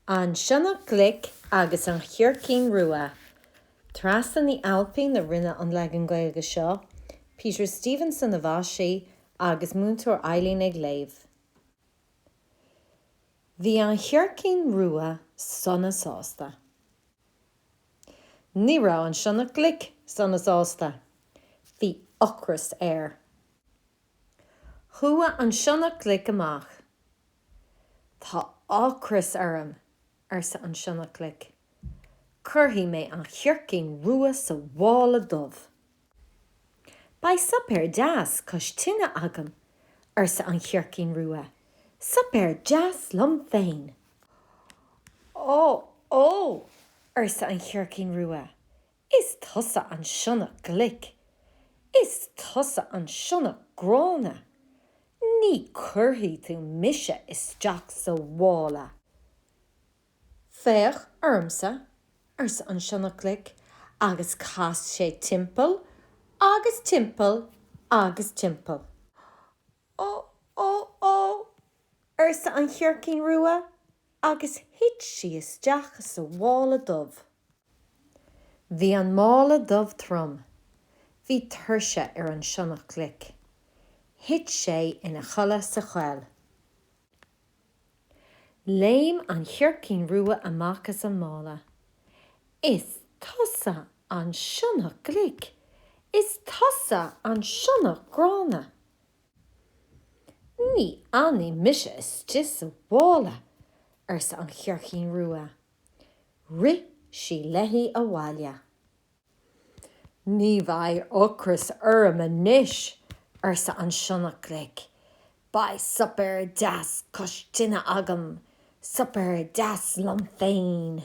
An Sionnach Glic agus an Chircín Rua. Treasa Ní Ailpín a rinneadh an leagan Gaeilge seo. Peter Stevenson a mhaisigh agus Múinteoir Eileen ag léamh. Bhí an chircín rua sona sásta. Ní raibh an sionnach glic sona sásta. Bhí ocras air. Chuaigh an sionnach glic amach. Tá ocras orm, arsa an sionnach glic. Cuirfidh mé an chircín rua sa mhála dubh. Beidh suipéar deas cois tine agam, arsa an chircín rua, suipéar deas liom féin. Ó! Ó! arsa an chircín rua, Is tusa an sionnach glic. Is tusa an sionnach gránna. Ní cuirfidh tú mise isteach sa mhála. Féach ormsa, arsa an sionnach glic, agus chas sé timpeall agus timpeall agus timpeall. Ó! Ó! Ó! arsa an chircín rua. agus thit sí isteach sa mhála dubh. Bhí an mála dubh trom. Bhí tuirse ar an sionnach glic. Thit sé ina chodladh sa choill. Léim an chircín rua amach as an mála. Is tusa an sionnach glic! Is tusa an sionnach gránna! Ní fhanfaidh mise istigh sa mhála, arsa an chircín rua. Rith sí léi abhaile. Ní bheidh ocras orm anois, arsa an sionnach glic. Beidh suipéar deas cois tine agam, suipéar deas liom féin.